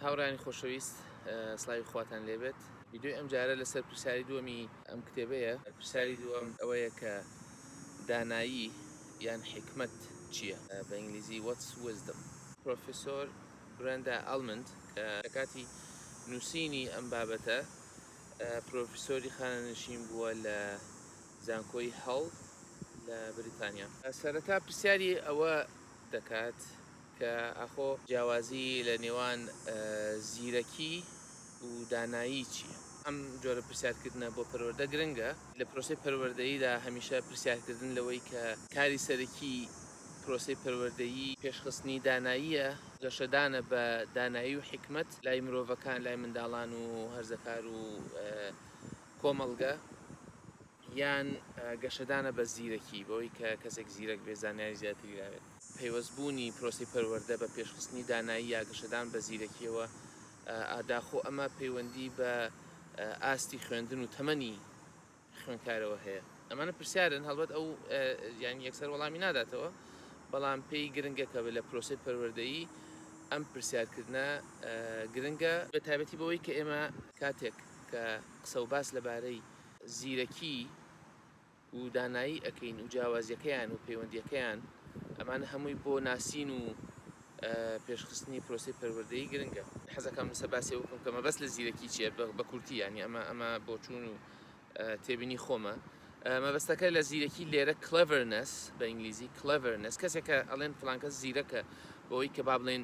هاوڕێیانی خۆشەویست سلاوی خواتان لێبێت ویددیوی ئەم جارە لەسەر پرسیاری دووەمی ئەم کتێبەیە پرسیاری دووەم ئەوەیە کە دانایی یان حکمت چییە بە ئینگلیزی وەتس وزدم پرۆفیسۆر برێندا ئەلمند کە لە کاتی نووسینی ئەم بابەتە پرۆفیسۆری خانەنشین بووە لە زانکۆی هەڵ لە بریتانیا. سەرەتا پرسیاری ئەوە دەکات کە ئاخۆ جیاوازی لە نێوان زیرەکی و دانایی چییە؟ ئەم جۆرە پرسیارکردنە بۆ پەروەردە گرنگە، لە پرۆسەی پەروەردەییدا هەمیشە پرسیارکردن لەوەی کە کاری سەرەکی پرۆسەی پەروەردەیی پێشخستنی داناییە، گەشەدانە بە دانایی و حیکمەت لای مرۆڤەکان، لای منداڵان و هەرزەکار و کۆمەڵگە یان گەشەدانە بە زیرەکی، بەوەی کە کەسێک زیرەک بێت زانیاری زیاتری لابێت. پەیوەست بوونی پرۆسەی پەروەردە بە پێشخستنی دانایی یا گەشەدان بە زیرەکیەوە، ئاداخۆ ئەمە پەیوەندی بە ئاستی خوێندن و تەمەنی خوێنکارەوە هەیە؟ ئەمانە پرسیارن هەڵبەت ئەو یان یەکسەر وەڵامی ناداتەوە، بەڵام پێی گرنگە کە لە پرۆسەی پەروەردەیی ئەم پرسیارکردنە گرنگە، بە تایبەتی بەوەی کە ئێمە کاتێک کە قسە و باس لە بارەی زیرەکی و دانایی ئەکەین و جیاوازیەکەیان و پەیوەندیەکەیان ئەمانە هەمووی بۆ ناسین و پێش خستنی پرۆسەی پەروەردەیی گرنگە. حەزەکەم لەسەر باسی ئەوە بکەم کە مەبەست لە زیرەکی چیە بە کورتی یانی ئەمە ئەمە بۆچوون و تێبینی خۆمە مەبەستەکە لە زیرەکی لێرە Cleverness بە ئینگلیزی Cleverness کەسێکە ئەڵێن فلانکەس زیرەکە بۆی کە با بڵێن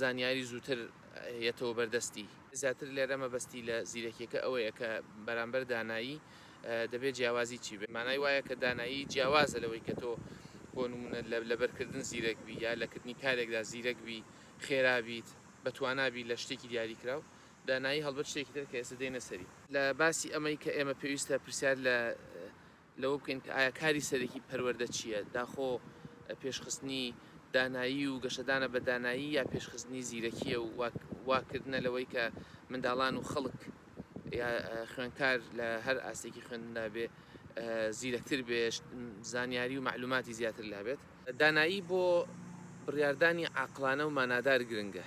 زانیاری زووتر یەتەوە بەر دەستی. زیاتر لێرە مەبەستی لە زیرەکیەکە ئەوەیە کە بەرامبەر دانایی دەبێ جیاوازی چی بێ. مانای وایە کە دانایی جیاوازە لەوەی کە تۆ بۆ نموونە لە لەبەر کردن زیرەک بی یا لە کردنی کارێکدا زیرەک بی، خێرا بیت، بە توانا بی لە شتێکی دیاری کراو. دانایی هەڵبەت شتێکی تر کە ئێستا دێینە سەری. لە باسی ئەمەی کە ئێمە پێویستە پرسیار لە لەوە بکەین کە ئایا کاری سەرەکی پەروەردە چییە، داخۆ پێشخستنی دانایی و گەشەدانە بە دانایی یا پێشخستنی زیرەکییە و واکردنە لەوەی کە منداڵان و خەڵک یا خوێندکار لە هەر ئاستێکی خوێندندا بێ زیرەکتر بێ زانیاری و مەعلوماتی زیاتر لابێت. دانایی بۆ بڕیاردانی عاقڵانە و مانادار گرنگە،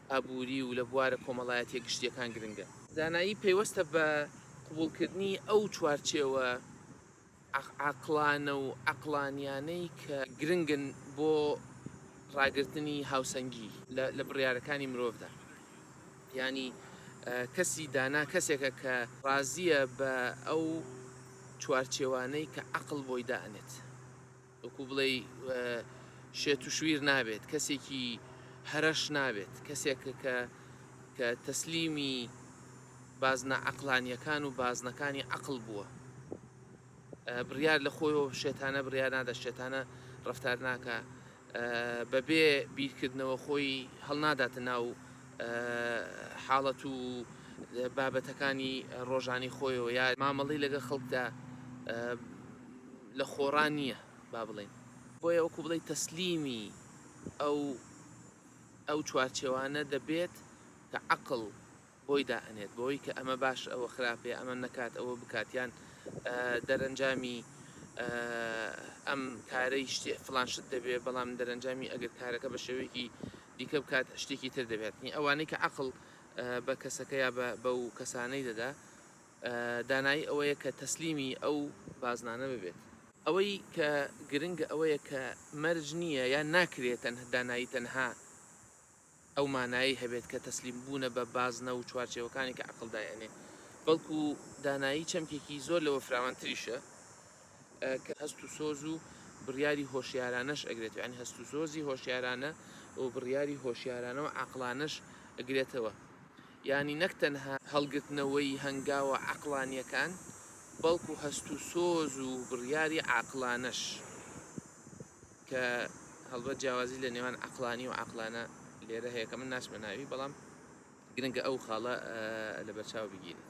ئابووری و لە بوارە کۆمەڵایەتیە گشتیەکان گرنگە. زانایی پەیوەستە بە قبوڵکردنی ئەو چوارچێوە عەقڵانە و عەقڵانیانەی کە گرنگن بۆ ڕاگرتنی هاوسەنگی لە بڕیارەکانی مرۆڤدا. یانی کەسی دانا کەسێکە کە ڕازیە بە ئەو چوارچێوانەی کە عەقڵ بۆی دائەنێت. وەکو بڵێی شێت و شویر نابێت کەسێکی هەرەش نابێت کەسێک کە کە تەسلیمی بازنە عقلانیەکان و بازنەکانی عقل بووە بڕیار لە خۆیەوە شێتانە بڕیار نادە شێتانە ڕفتار ناکە بەبێ بیرکردنەوە خۆی هەڵناداتە ناو حاڵەت و بابەتەکانی ڕۆژانی خۆیەوە یا مامەڵی لەگە خەڵکدا لە خۆڕا نییە با بڵێین. بۆیە وەکو بڵێی تەسلیمی ئەو ئەو چوارچێوانە دەبێت کە عەقڵ بۆی دائەنێت بۆی کە ئەمە باش ئەوە خراپێ ئەمە نەکات ئەوە بکات یان دەرەنجامی ئەم کارەی شتێ فلان شت دەبێت بەڵام دەرەنجامی ئەگەر کارەکە بە شێوەیەکی دیکە بکات شتێکی تر دەبێتنی ئەوانەی کە عقل بە کەسەکە یا بە و کەسانەی دەدا دانایی ئەوەیە کە تەسلیمی ئەو بازنانە ببێت. ئەوەی کە گرنگە ئەوەیە کە مەرج نییە یان ناکرێت دانایی تەنها ئەو مانایەی هەبێت کە تەسلیم بوونە بە بازنە و چوارچێوەکانی کە عەقڵ دایئەنێ، بەڵکو دانایی چەمکێکی زۆر لەوە فراوانتریشە کە هەست و سۆز و بڕیاری هۆشیارانەش ئەگرێتەوە، یانی هەست و سۆزی هۆشیارانە و بڕیاری هۆشیارانە و عەقڵانەش ئەگرێتەوە. یانی نەک تەنها هەڵگرتنەوەی هەنگاوە عەقڵانییەکان، بەڵکو هەست و سۆز و بڕیاری عاقڵانەش، کە هەڵبەت جیاوازی لە نێوان عەقڵانی و عاقلانە لێرە هەیە کە من ناچمە ناوی، بەڵام گرنگە ئەو خاڵە لەبەرچاو بگیرێت.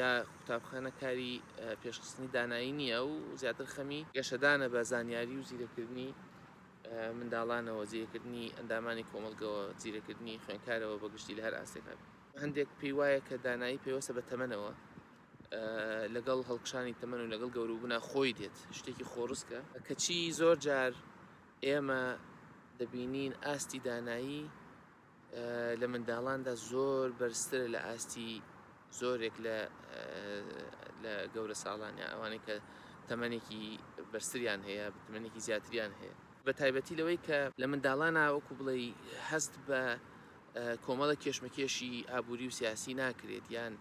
یا قوتابخانە کاری پێشخستنی دانایی نییە و زیاتر خەمی گەشەدانە بە زانیاری و زیرەکردنی منداڵانەوە زیرەکردنی ئەندامانی کۆمەلگەوە زیرەکردنی خوێنکارەوە بە گشتی لە هەر ئاستێکا هەندێک پێی وایە کە دانایی پێوەسە بە تەمەنەوە لەگەڵ هەڵکشانی تەمەن و لەگەڵ گەوروبنا خۆی دێت شتێکی خۆڕسکە کەچی زۆر جار ئێمە دەبینین ئاستی دانایی لە منداڵاندا زۆر بەرزترە لە ئاستی زۆرێک لە لە گەورە ساڵانە ئەوانەی کە تەمەنێکی بەرزتریان هەیە بتمەنێکی زیاتریان هەیە بە تایبەتی لەوەی کە لە منداڵانە وەکو بڵێ هەست بە کۆمەڵە کێشمەکێشی ئابووری و سیاسی ناکرێت یان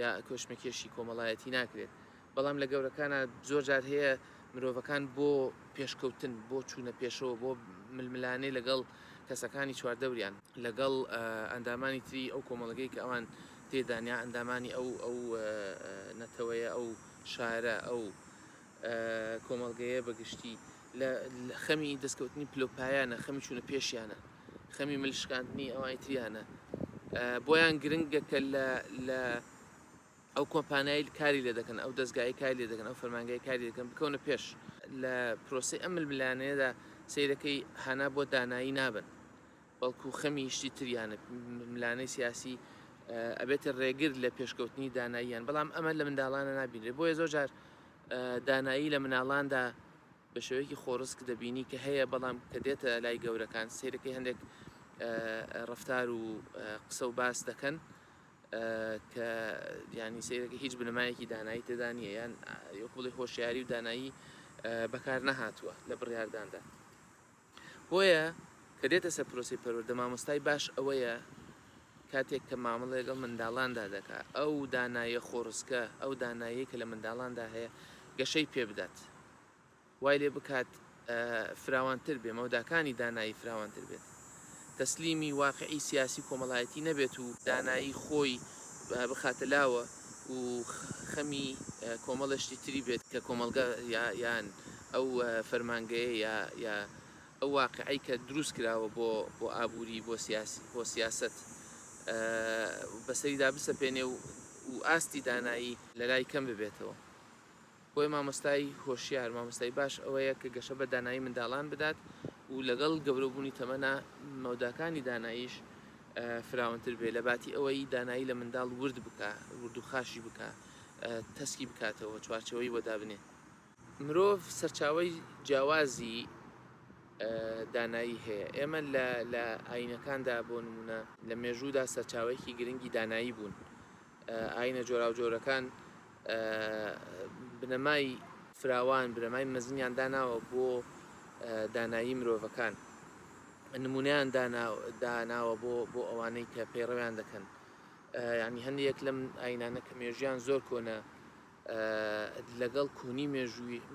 یا کۆشمەکێشی کۆمەڵایەتی ناکرێت بەڵام لە گەورەکانا زۆر جار هەیە مرۆڤەکان بۆ پێشکەوتن، بۆ چوونە پێشەوە، بۆ ململانێ لەگەڵ کەسەکانی چواردەوریان، لەگەڵ ئەندامانی تری ئەو کۆمەڵگەی کە ئەوان تێدان یا ئەندامانی ئەو ئەو نەتەوەیە، ئەو شارە، ئەو کۆمەڵگەیە بە گشتی لە خەمی دەستکەوتنی پلە و پایانە، خەمی چوونە پێشیانە، خەمی مل شکاندنی ئەوانی تریانە. بۆیان گرنگە کە لە ئەو کۆمپانیایل کاری لێ دەکەن، ئەو دەزگایەی کاری لێ دەکەن، ئەو فەرمانگەیە کاری لێ دەکەن بکەونە پێش. لە پرۆسەی ئەم ململانێیەدا سەیرەکەی هانا بۆ دانایی نابن، بەڵکو خەمی شتی تریانە، ململانێی سیاسی ئەبێتە رێگر لە پێشکەوتنی داناییان، بەڵام ئەمە لە منداڵانە نابینرێت، بۆیە زۆر جار دانایی لە مناڵاندا بە شێوەیەکی خۆڕسک دەبینی کە هەیە، بەڵام کە دێتە لای گەورەکان سەیرەکەی هەندێک رەفتار و قسە و باس دەکەن، کە یانی سەیرەکە هیچ بنەمایەکی دانایی تێدا نییە یان یۆک بڵێ هۆشیاری و دانایی بەکار نەهاتووە لە بڕیارداندا بۆیە کە دێتە سەر پرۆسی پەروەردە مامۆستای باش ئەوەیە کاتێک کە مامەڵ لەگەڵ منداڵاندا دەکا ئەو دانایە خۆڕسکە ئەو دانایی کە لە منداڵاندا هەیە گەشەی پێ بدات وای لێ بکات فراوانتر بێ مەوداکانی دانایی فراوانتر بێت تەسلیمی واقعی سیاسی و کۆمەڵایەتی نەبێت و دانایی خۆی بخاتە لاوە و خەمی کۆمەڵەشتی تری بێت کە کۆمەڵگە یان ئەو فەرمانگەیە یا یا ئەو واقعەی کە دروست کراوە بۆ بۆ ئابووری بۆ سیاسی بۆ سیاسەت بەسەریدا بسەپێنێ و ئاستی دانایی لەلای کەم ببێتەوە. بۆیە مامۆستای هۆشیار، مامۆستای باش ئەوەیە کە گەشە بە دانایی منداڵان بدات و لەگەڵ گەورەبوونی تەمەنە مەوداکانی داناییش فراونتر بێ لەباتی ئەوەی دانایی لە منداڵ ورد بکا وردوخاشی بکا تەسکی بکاتەوە چوارچێوەی بۆ دابنێ. مرۆڤ سەرچاوەی جیاوازی دانایی هەیە ئێمە لە لە ئاینەکاندا بۆ نموونە لە مێژوودا سەرچاوەیەکی گرنگی دانایی بوون ئایینە جۆراوجۆرەکان بنەمای فراوان، بنەمای مەزنیان داناوە بۆ دانایی مرۆڤەکان. نموونەیان داناوە بۆ ئەوانەی کە پەیڕەویان دەکەن. یانی هەندێک لەم ئاینانە کە مێژیان زۆر کۆنە لەگەڵ کۆنی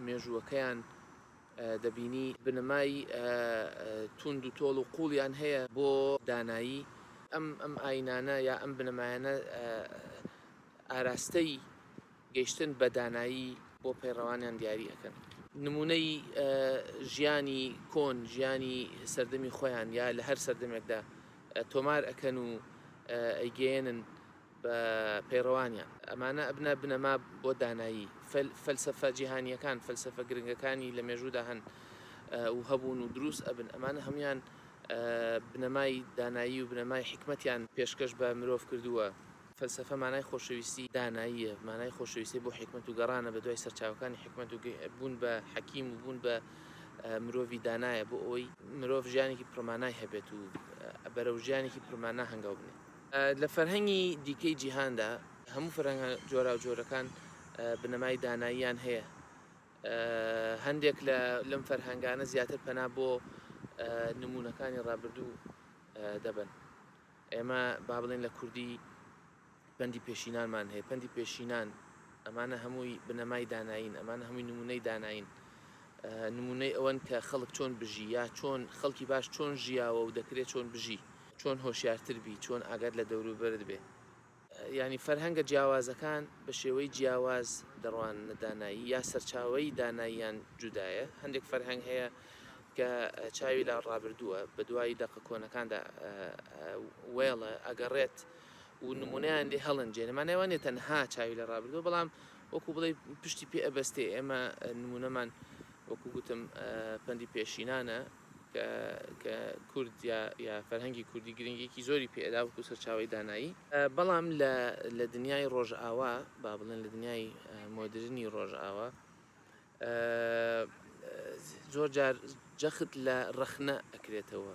مێژووەکەیان دەبینی بنەمای توند و تۆڵ و قوڵیان هەیە بۆ دانایی ئەم ئەم ئاینانە یا ئەم بنەمایانە ئاراستەی گەیشتن بە دانایی بۆ پەیڕەوانیان دیاری ئەکەن نمونەی ژیانی کۆن ژیانی سەردەمی خۆیان یا لە هەر سەردەمێکدا تۆمار ئەکەن و ئەیگەیەنن بە پەیڕەوانیان. ئەمانە ئەبنە بنەما بۆ دانایی. فەلسەفە جیهانییەکان، فەلسەفە گرنگەکانی لە مێژوودا هەن و هەبوون و دروست ئەبن، ئەمانە هەموویان بنەمای دانایی و بنەمای حیکمەتیان پێشکەش بە مرۆڤ کردووە. فەلسەفە مانای خۆشەویستی داناییە، مانای خۆشەویستی بۆ حیکمەت و گەڕانە بە دوای سەرچاوەکانی حیکمەت و بوون بە حەکیم و بوون بە مرۆڤی دانایە بۆ ئەوەی مرۆڤ ژیانێکی پڕمانای هەبێت و بەرەو ژیانێکی پڕمانا هەنگاو بنێت. لە فەرهەنگی دیکەی جیهاندا، هەموو فەرهەنگە جۆراوجۆرەکان بنەمای داناییان هەیە. هەندێک لەم فەرهەنگانە زیاتر پەنا بۆ نموونەکانی ڕابردوو دەبەن. ئێمە با بڵێن لە کوردی پەندی پێشینانمان هەیە، پەندی پێشینان ئەمانە هەمووی بنەمای دانایین، ئەمانە هەمووی نموونەی دانایین، نموونەی ئەوەن کە خەڵک چۆن بژی یا چۆن خەڵکی باش چۆن ژیاوە و دەکرێت چۆن بژی. چۆن هۆشیارتر بی، چۆن ئاگات لە دەوروبەرت بێ. یانی فەرهەنگە جیاوازەکان بە شێوەی جیاواز دەڕواننە دانایی یا سەرچاوەی داناییان جودایە. هەندێک فەرهەنگ هەیە کە چاوی لە ڕابردووە، بە دوای دەقە کۆنەکاندا وێڵە ئەگەڕێت و نموونەیان لێ هەڵەنجێنێ. مانای ئەوە نییە تەنها چاوی لە ڕابردووە، بەڵام وەکوو بڵێی پشتی پێ ئەبەستێ. ئێمە نموونەمان وەکوو گوتم پەندی پێشینانە. کە کە کورد یا یا فەرهەنگی کوردی گرنگییەکی زۆری پێ ئەدا وەکوو سەرچاوەی دانایی. بەڵام لە لە دنیای ڕۆژئاوا، با بڵێن لە دنیای مۆدرنی ڕۆژئاوا، زۆر جار جەخت لە ڕەخنە ئەکرێتەوە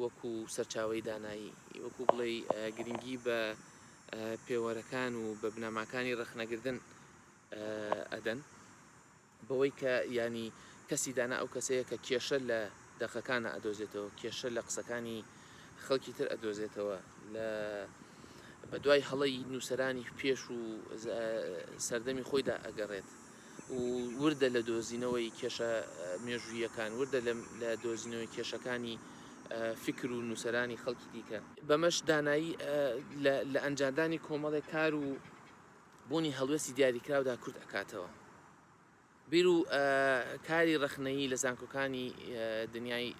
وەکوو سەرچاوەی دانایی، وەکوو بڵێی گرنگی بە پێوەرەکان و بە بنەماکانی ڕەخنەگرتن ئەدەن. بەوەی کە یانی کەسی دانا ئەو کەسەیە کە کێشە لە دەقەکانا ئەدۆزێتەوە کێشە لە قسەکانی خەڵکی تر ئەدۆزێتەوە لە بەدوای هەڵەی نووسەرانی پێش و سەردەمی خۆیدا ئەگەڕێت و وردە لە دۆزینەوەی کێشە مێژوویەکان وردە لە دۆزینەوەی کێشەکانی فکر و نووسەرانی خەڵکی دیکە بەمەش دانایی لە ئەنجامدانی کۆمەڵێک کار و بوونی هەڵوێستی دیاریکراودا کورت ئەکاتەوە. بیر و کاری ڕەخنەیی لە زانکۆکانی دنیای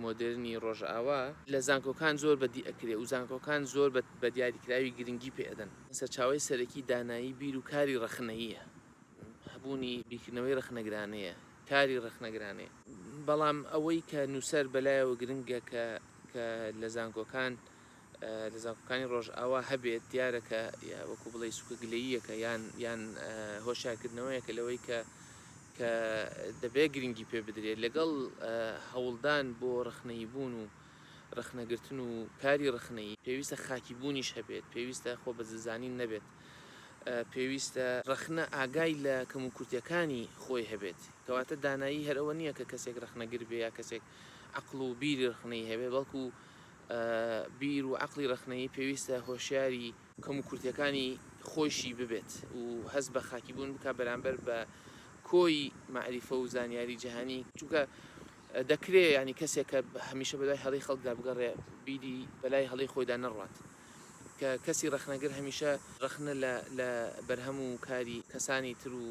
مۆدێرنی ڕۆژئاوا، لە زانکۆکان زۆر بەدی ئەکرێ و زانکۆکان زۆر بە دیاریکراوی گرنگی پێ ئەدەن. سەرچاوەی سەرەکی دانایی بیر و کاری ڕەخنەییە، هەبوونی بیرکردنەوەی ڕەخنەگرانەیە، کاری ڕەخنەگرانەیە. بەڵام ئەوەی کە نووسەر بەلایەوە گرنگە کە لە زانکۆکان، لە زانکۆکانی ڕۆژئاوا هەبێت دیارە کە وەکو بڵێ سوکە گلەییەکە یان یان هۆشارکردنەوەیەکە لەوەی کە کە دەبێت گرنگی پێ بدرێت لەگەڵ هەوڵدان بۆ ڕخنەی بوون و ڕخنەگرتن و کاری ڕخنەی پێویستە خاکی بوونیش هەبێت پێویستە خۆ بە زلزانین نەبێت پێویستە ڕخنە ئاگای لە کەم و کورتەکانی خۆی هەبێت کەواتە دانایی هەرەوە نییە کە کەسێک ڕخنەگر بێ یا کەسێک عقل و بیری ڕخنەی هەبێ بەڵکو بیر و عەقڵی ڕەخنەیی پێویستە هۆشیاری کەم و کورتیەکانی خۆیشی ببێت و هەست بە خاکی بوون بکا بەرامبەر بە کۆی مەعریفە و زانیاری جەهانی چونکە دەکرێ یانی کەسێک کە هەمیشە بەدوای هەڵەی خەڵکدا بگەڕێ بیری بەلای هەڵەی خۆیدا نەڕوات کە کەسی ڕەخنەگر هەمیشە ڕەخنە لە لە بەرهەم و کاری کەسانی تر و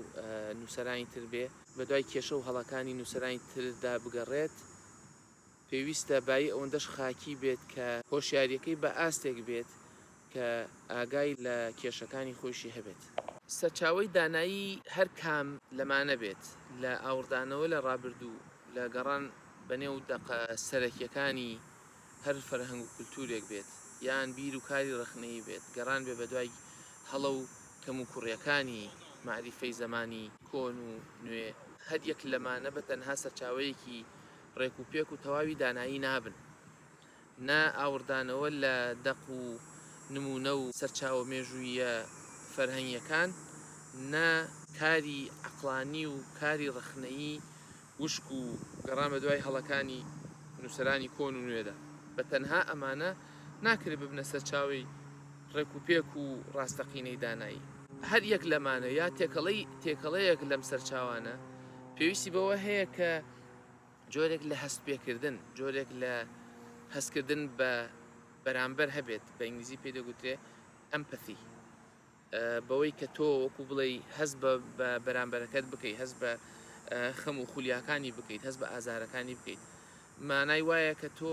نووسەرانی تر بێ بەدوای کێشە و هەڵەکانی نووسەرانی تردا بگەڕێت. پێویستە بایی ئەوەندەش خاکی بێت کە هۆشیارییەکەی بە ئاستێک بێت کە ئاگای لە کێشەکانی خۆیشی هەبێت. سەرچاوەی دانایی هەر کام لەمانە بێت، لە ئاوڕدانەوە لە ڕابردوو، لە گەڕان بەنێو دەقە سەرەکییەکانی هەر فەرهەنگ و کولتوورێک بێت، یان بیر و کاری ڕەخنەیی بێت، گەڕان بێ بەدوای هەڵە و کەموکوڕییەکانی مەعریفەی زەمانی کۆن و نوێ، هەر یەک لەمانە بە تەنها سەرچاوەیەکی ڕێک و پێک و تەواوی دانایی نابن، نە ئاوڕدانەوە لە دەق و نموونە و سەرچاوە مێژووییە فەرهەنگیەکان، نە. کاری عەقڵانی و کاری ڕەخنەیی وشک و گەڕان بە دوای هەڵەکانی نووسەرانی کۆن و نوێدا، بە تەنها ئەمانە ناکرێ ببنە سەرچاوەی ڕێک و پێک و ڕاستەقینەی دانایی. هەر یەک لەمانە یا تێکەڵەی تێکەڵەیەک لەم سەرچاوانە پێویستی بەوە هەیە کە جۆرێک لە هەستپێکردن، جۆرێک لە هەستکردن بە بەرامبەر هەبێت، بە ئینگلیزی پێی دەگوترێت Empathy، بەوەی کە تۆ وەکو بڵێی هەست بە بەرامبەرەکەت بکەیت، هەست بە خەم و خولیاکانی بکەیت، هەست بە ئازارەکانی بکەیت، مانای وایە کە تۆ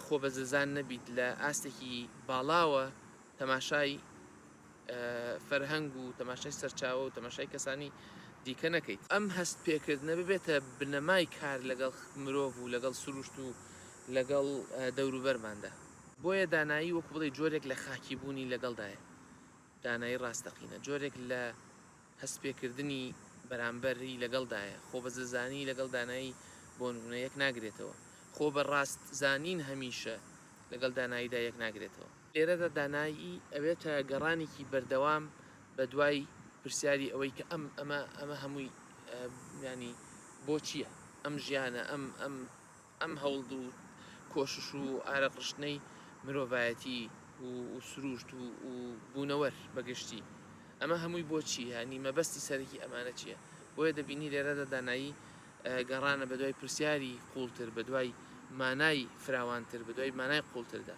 خۆبەزلزان نەبیت، لە ئاستێکی باڵاوە تەماشای فەرهەنگ و تەماشای سەرچاوە و تەماشای کەسانی دیکە نەکەیت. ئەم هەست پێکردنە ببێتە بنەمای کار لەگەڵ مرۆڤ و لەگەڵ سروشت و لەگەڵ دەوروبەرماندا. بۆیە دانایی وەکو بڵێی جۆرێک لە خاکی بوونی لەگەڵدایە. دانایی ڕاستەقینە جۆرێک لە هەست پێکردنی بەرامبەری لەگەڵدایە. خۆ بە زلزانی لەگەڵ دانایی بۆ نمونە یەک ناگرێتەوە. خۆ بە ڕاست زانین هەمیشە لەگەڵ داناییدا یەک ناگرێتەوە. لێرەدا دانایی ئەوێتە گەڕانێکی بەردەوام بە دوای پرسیاری ئەوەی کە ئەم ئەمە ئەمە هەمووی یانی بۆچییە ئەم ژیانە ئەم ئەم ئەم هەوڵ و کۆشش و ئارەق ڕشتنەی مرۆڤایەتی و سروشت و بوونەوەر بەگشتی ئەمە هەمووی بۆچی هەنی مەبەستی سەرەکی ئەمانە چییە بۆیە دەبینی لێرەدا دانایی گەڕانە بە دوای پرسیاری قوڵتر بە دوای مانای فراوانتر بە دوای مانای قوڵتردا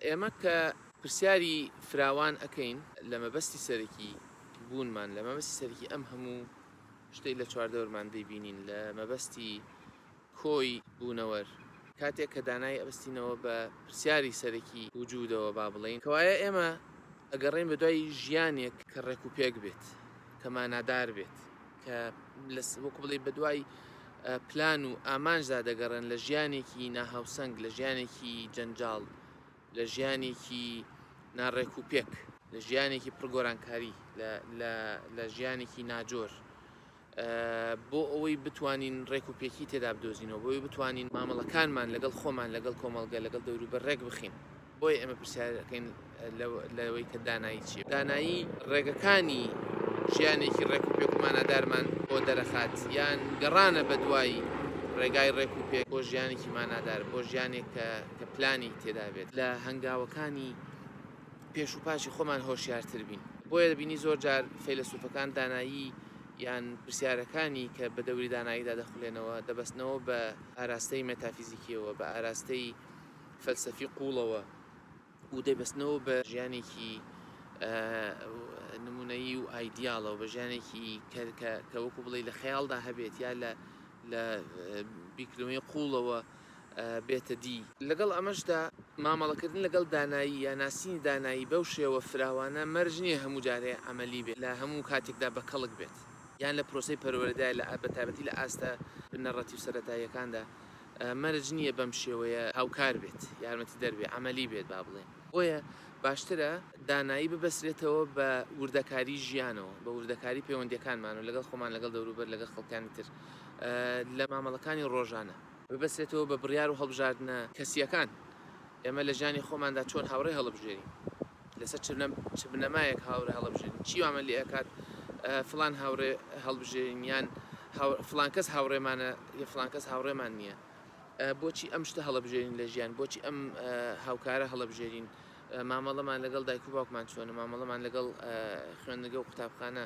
ئێمە کە پرسیاری فراوان ئەکەین لە مەبەستی سەرەکی بوونمان، لە مەبەستی سەرەکی ئەم هەموو شتەی لە چواردەورمان دەیبینین، لە مەبەستی کۆی بوونەوەر، کاتێک کە دانای ئەبەستینەوە بە پرسیاری سەرەکی وجودەوە با بڵێین، کەوایە ئێمە ئەگەڕێین بە دوای ژیانێک کە ڕێک و پێک بێت، کە مانادار بێت. کە وەکو بڵێی بەدوای پلان و ئامانجدا دەگەڕێن لە ژیانێکی ناهاوسەنگ، لە ژیانێکی جەنجاڵ، لە ژیانێکی ناڕێک و پێک، لە ژیانێکی پڕ گۆرانکاری، لە ژیانێکی ناجۆر، بۆ ئەوەی بتوانین ڕێک و پێکی تێدا بدۆزینەوە، بۆ ئەوەی بتوانین مامەڵەکانمان لەگەڵ خۆمان، لەگەڵ کۆمەڵگە، لەگەڵ دەوروبەر ڕێکبخەین. بۆیە ئێمە پرسیارەکەین لەوەی کە دانایی چیە دانایی ڕێگەکانی ژیانێکی ڕێک و پێک مانادارمان بۆ دەرەخات یان گەڕانە بە دوایی ڕێگای ڕێک و پێک بۆ ژیانێکی مانادار بۆ ژیانێک کە کە پلانی تێدا بێت لە هەنگاوەکانی پێش و پاشی خۆمان هۆشیارتر بین بۆیە دەبینی زۆر جار فەیلسوفەکان دانایی یان پرسیارەکانی کە بە دەوری داناییدا دەخولێنەوە دەبستنەوە بە ئاراستەی مەتافیزیکیەوە بە ئاراستەی فەلسەفی قووڵەوە و دەبەستنەوە بە ژیانێکی نموونەیی و ئایدیاڵەوە بە ژیانێکی کەرکە کە وەکو بڵێ لە خەیاڵدا هەبێت یا لە لە بیکرمەی قووڵەوە بێتە دی لەگەڵ ئەمەشدا مامەڵەکردن لەگەڵ دانایی یا ناسینی دانایی بەو شێوە فراوانە مەرج نییە هەموو جارێ عەمەلی بێت لە هەموو کاتێکدا بە کەڵک بێت یان لە پرۆسەی پەروەردە لە بە تایبەتی لە ئاستە بنەڕەتی و سەرەتاییەکاندا. مەرج نییە بەم شێوەیە هاوکار بێت، یارمەتیدەر بێت، عەمەلی بێت با بڵێین. بۆیە باشترە دانایی ببەسرێتەوە بە وردەکاریی ژیانەوە، بە وردەکاریی پەیوەندییەکانمانەوە لەگەڵ خۆمان، لەگەڵ دەوروبەر، لەگەڵ خەڵکانی تر لە مامەڵەکانی ڕۆژانە. ببەسرێتەوە بە بڕیار و هەڵبژاردنە کەسییەکان، ئێمە لە ژیانی خۆماندا چۆن هاوڕێ هەڵبژێرین. لەسەر چ بنەمایەک هاوڕێ هەڵەبژێرین؟ چی وامان لێ ئەکات فڵان هاوڕێ هەڵبژێرین یان فڵان کەس هاوڕێمانە یە فڵان کەس هاوڕێمان نییە؟ بۆچی ئەم شتە هەڵەبژێرین لە ژیان؟ بۆچی ئەم هاوکارە هەڵەبژێرین؟ مامەڵەمان لەگەڵ دایک و باوکمان چۆنە؟ مامەڵەمان لەگەڵ خوێندنگە و قوتابخانە،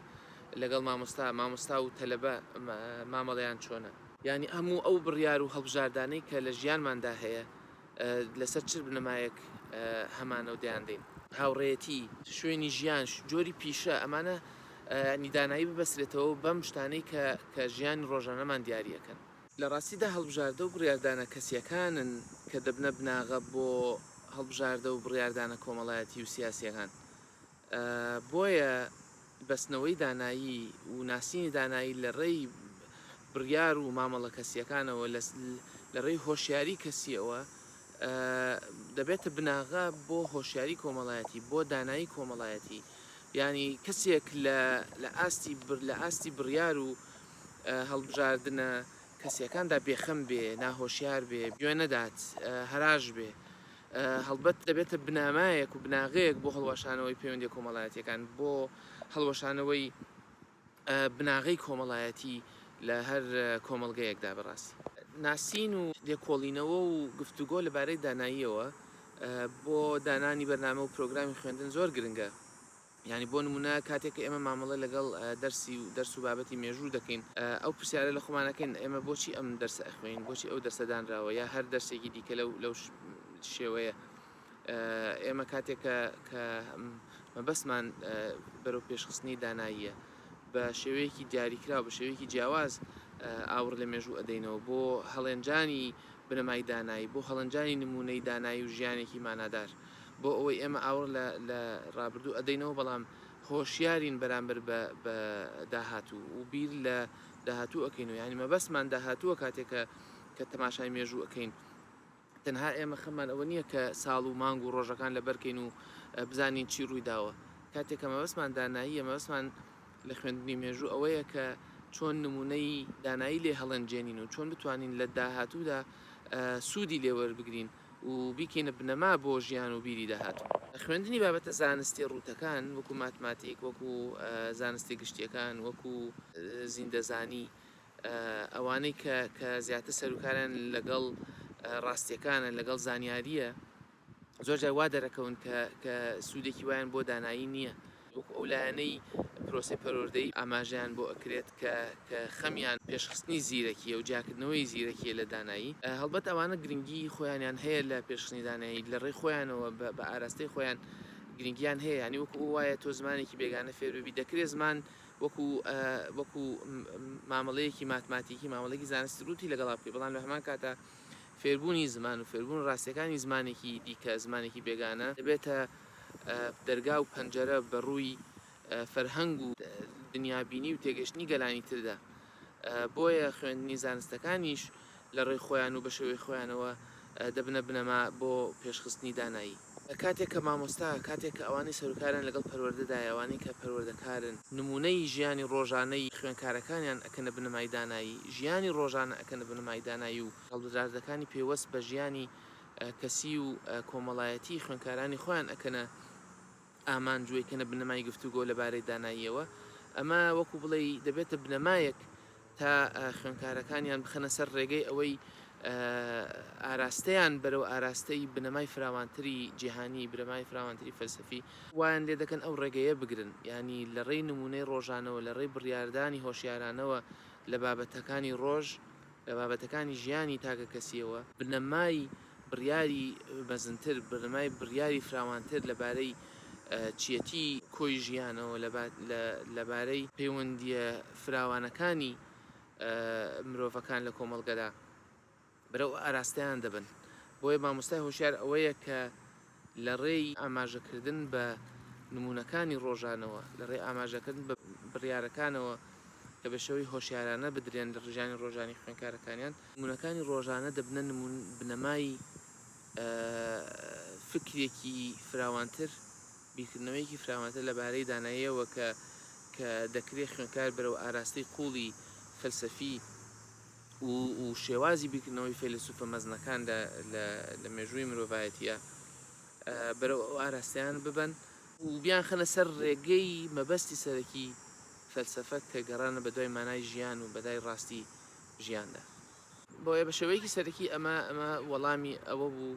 لەگەڵ مامۆستا، مامۆستا و تەلەبە مامەڵەیان چۆنە؟ یانی هەموو ئەو بڕیار و هەڵبژاردانەی کە لە ژیانماندا هەیە لەسەر چ بنەمایەک هەمانە و دەیان دەین؟ هاوڕێیەتی، شوێنی ژیان، جۆری پیشە، ئەمانە یانی دانایی ببەسرێتەوە بەم شتانەی کە کە ژیانی ڕۆژانەمان دیاری ئەکەن. لە ڕاستیدا هەڵبژاردە و بڕیاردانە کەسییەکانن کە دەبنە بناغە بۆ هەڵبژاردە و بڕیاردانە کۆمەڵایەتی و سیاسییەکان. بۆیە بەستنەوەی دانایی و ناسینی دانایی لە ڕێی بڕیار و مامەڵە کەسییەکانەوە، لە ڕێی هۆشیاری کەسییەوە، دەبێتە بناغە بۆ هۆشیاری کۆمەڵایەتی، بۆ دانایی کۆمەڵایەتی. یانی کەسێک لە ئاستی بڕیار و هەڵبژاردنە کەسییەکاندا بێخەم بێ، ناهۆشیار بێ، گوێ نەدات، هەراش بێ. هەڵبەت دەبێتە بنامایەک و بناغەیەک بۆ هەڵوەشانەوەی پەیوەندیە کۆمەڵایەتیەکان بۆ هەڵوەشانەوەی بناغەی کۆمەڵایەتی لە هەر کۆمەڵگەیەکدا بەڕاستی. ناسین و لێکۆڵینەوە و گفتوگۆ لەبارەی داناییەوە بۆ دانانی بەرنامە و پرۆگرامی خوێندن زۆر گرنگە، یانی بۆ نموونە کاتێک کە ئێمە مامەڵە لەگەڵ دەرسی و دەرس و بابەتی مێژوو دەکەین ئەو پرسیارە لە خۆمان ئەکەین ئێمە بۆچی ئەم دەرسە ئەخوێنین بۆچی ئەو دەرسە دانراوە یا هەر دەرسێکی دیکە لەو لەو شێوەیە ئێمە کاتێک کە کە مەبەستمان بەرەو پێشخستنی داناییە بە شێوەیەکی دیاریکراو بە شێوەیەکی جیاواز ئاوڕ لە مێژوو ئەدەینەوە بۆ هەڵێنجانی بنەمای دانایی بۆ هەڵنجانی نمونەی دانایی و ژیانێکی مانادار بۆ ئەوەی ئێمە ئاوڕ لە لە ڕابردوو ئەدەینەوە بەڵام هۆشیارین بەرامبەر بە بە داهاتوو و بیر لە داهاتوو ئەەکەین و یعنی مەبەستمان داهاتووە کاتێکە کە تەماشای مێژوو ئەەکەین تەنها ئێمە خەمان ئەوە نییە کە ساڵ و مانگ و ڕۆژەکان لە بەرکەین و بزانین چی ڕووی داوە کاتێکە مەبەستمان داناییە مەبەستمان لە خوێندنی مێژوو ئەوەیە کە چۆن نمونەی دانایی لێ هەڵێنجێنین و چۆن بتوانین لە داهاتوودا سوودی لێوەربگرین و بیکەینە بنەما بۆ ژیان و بیری داهاتوو. خوێندنی بابەتە زانستیە ڕووتەکان وەکو ماتماتیک، وەکو زانستە گشتیەکان، وەکو زیندەزانی، ئەوانەی کە کە زیاتر سەروکاریان لەگەڵ ڕاستیەکانە، لەگەڵ زانیاریە، زۆر جار وا دەرەکەون کە کە سوودێکی وایان بۆ دانایی نیە. وەکو ئەو لایەنەی پرۆسەی پەروەردەی ئاماژەیان بۆ ئەکرێت کە کە خەمیان پێشخستنی زیرەکیە و جیاکردنەوەی زیرەکیە لە دانایی، هەڵبەت ئەوانە گرنگی خۆیانیان هەیە لە پێشخستنی دانایی لە ڕێی خۆیانەوە بە بە ئاراستەی خۆیان گرنگیان هەیە یانی وەکو ئەو وایە تۆ زمانێکی بێگانە فێر ببی دەکرێ زمان وەکو وەکو مامەڵەیەکی ماتماتیکی مامەڵەیەکی زانستی ڕووتی لەگەڵا بکەی بەڵام لە هەمان کاتا فێربوونی زمان و فێربوون ڕاستیەکانی زمانێکی دیکە زمانێکی بێگانە دەبێتە دەرگا و پەنجەرە بە ڕووی فەرهەنگ و دنیابینی و تێگەشتنی گەلانی تردا. بۆیە خوێندنی زانستەکانیش لە ڕێی خۆیان و بە شێوەی خۆیانەوە دەبنە بنەما بۆ پێشخستنی دانایی. کاتێک کە مامۆستا، کاتێک کە ئەوانەی سەروکاریان لەگەڵ پەروەردەدایە، ئەوانەی کە پەروەردەکارن، نموونەی ژیانی ڕۆژانەی خوێنکارەکانیان ئەکەنە بنەمای دانایی، ژیانی ڕۆژانە ئەکەنە بنەمای دانایی و هەڵبژاردەکانی پەیوەست بە ژیانی کەسی و کۆمەڵایەتی خوێنکارانی خۆیان ئەکەنە ئامانج و ئەیکەنە بنەمای گفتوگۆ لەبارەی داناییەوە، ئەمە وەکو بڵێی دەبێتە بنەمایەک تا خوێنکارەکانیان بخەنە سەر ڕێگەی ئەوەی ئاراستەیان بەرەو ئاراستەی بنەمای فراوانتری جیهانی، بنەمای فراوانتری فەلسەفی، وایان لێدەکەن ئەو ڕێگەیە بگرن، یانی لەڕێی نموونەی ڕۆژانەوە، لەڕێی بڕیاردانی هۆشیارانەوە لە بابەتەکانی ڕۆژ، لە بابەتەکانی ژیانی تاکەکەسییەوە، بنەمای بڕیاری مەزنتر، بنەمای بڕیاری فراوانتر لەبارەی چییەتی کۆی ژیانەوە، لەبارەی پەیوەندییە فراوانەکانی مرۆڤەکان لە کۆمەڵگەدا، بەرەو ئاراستەیان دەبن. بۆیە مامۆستای هۆشیار ئەوەیە کە لە ڕێی ئاماژەکردن بە نموونەکانی ڕۆژانەوە، لە ڕێی ئاماژەکردن بە بڕیارەکانەوە کە بە شێوەی هۆشیارانە بدرێن لە ڕژانی ڕۆژانی خوێنکارەکانیان، نموونەکانی ڕۆژانە دەبنە بنەمای فکرێکی فراوانتر، بیرکردنەوەیەکی فراوانتر لە بارەی داناییەوە کە کە دەکرێ خوێنکار بەرەو ئاراستەی قووڵی فەلسەفی، و شێوازی بیرکردنەوەی فەیلەسوفە مەزنەکاندا لە مێژووی مرۆڤایەتییە، بەرەو ئەو ئاراستەیان ببەن، و بیانخەنە سەر ڕێگەی مەبەستی سەرەکی فەلسەفە کە گەڕانە بەدوای مانای ژیان و بەدای ڕاستی ژیاندا. بۆیە بە شێوەیەکی سەرەکی ئەمە وەڵامی ئەوە بوو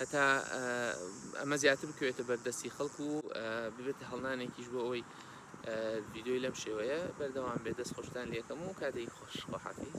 هەتا ئەمە زیاتر بکەوێتە بەر دەستی خەڵک و ببێتە هەڵنانێکیش بۆ ئەوەی ڤیددیوی لەم شێوەیە بەردەوام بێ دەست خۆشتان لەکەم و کاتێکی خۆش خۆحافیز